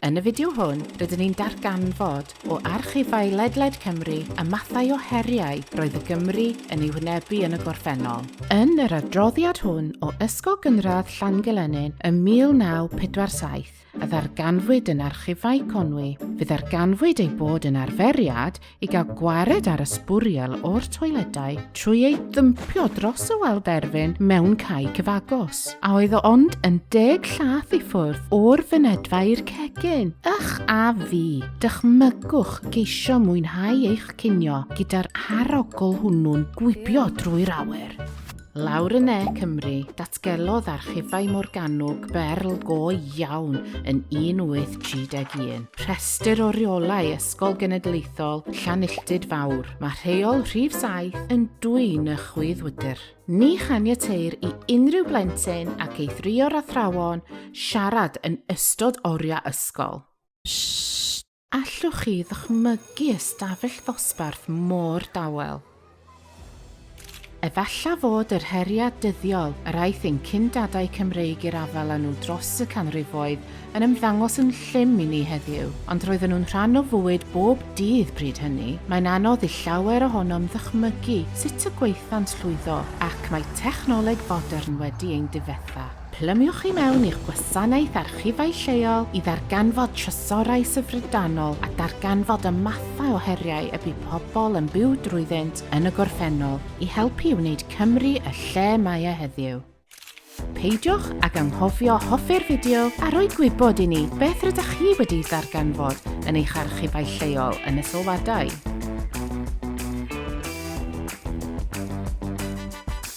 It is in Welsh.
Yn y fideo hwn, rydyn ni'n darganfod, o archifau ledled Cymru, y mathau o heriau roedd y Gymry yn eu hwynebu yn y gorffennol. Yn yr adroddiad hwn o Ysgol Gynradd Llangylenyn ym 1947, a ddarganfwyd yn Archifau Conwy, fe ddarganfwyd ei bod yn arferiad i gael gwared ar y sbwriel o'r toiledau trwy ei ddympio dros y wal derfyn mewn cae cyfagos, a oedd o ond yn deg llath i ffwrdd o'r fynedfa i'r cegin. Ych a fi, dychmygwch geisio mwynhau eich cinio gyda'r arogl hwnnw'n gwibio drwy'r awyr. Lawr yn Ne Cymru, datgelodd archifau Morgannwg berl go iawn yn 1831. Rhestr o reolau Ysgol Genedlaethol Llanilltud Fawr. Mae rheol rhif 7 yn dwyn y chwydd wydr. Ni chaniateir i unrhyw blentyn ac eithrio'r athrawon siarad yn ystod oriau ysgol. Allwch chi ddychmygu ystafell ddosbarth mor dawel? Efallai fod yr heriau dyddiol yr aeth ein cyn-dadau Cymreig i'r afael â nhw dros y canrifoedd yn ymddangos yn llym i ni heddiw, ond roedden nhw'n rhan o fywyd bob dydd bryd hynny. Mae'n anodd i llawer ohonom ddychmygu sut y gwaethant llwyddo, ac mae technoleg fodern wedi ein difetha. Plymiwch i mewn i'ch gwasanaeth archifau lleol i ddarganfod trysorau syfrdanol a darganfod y mathau o heriau y bu pobl yn byw drwyddynt yn y gorffennol i helpu i wneud Cymru y lle mae e heddiw. Peidiwch ag anghofio hoffi'r fideo a rhoi gwybod i ni beth rydych chi wedi'i darganfod yn eich archifau lleol yn y sylwadau.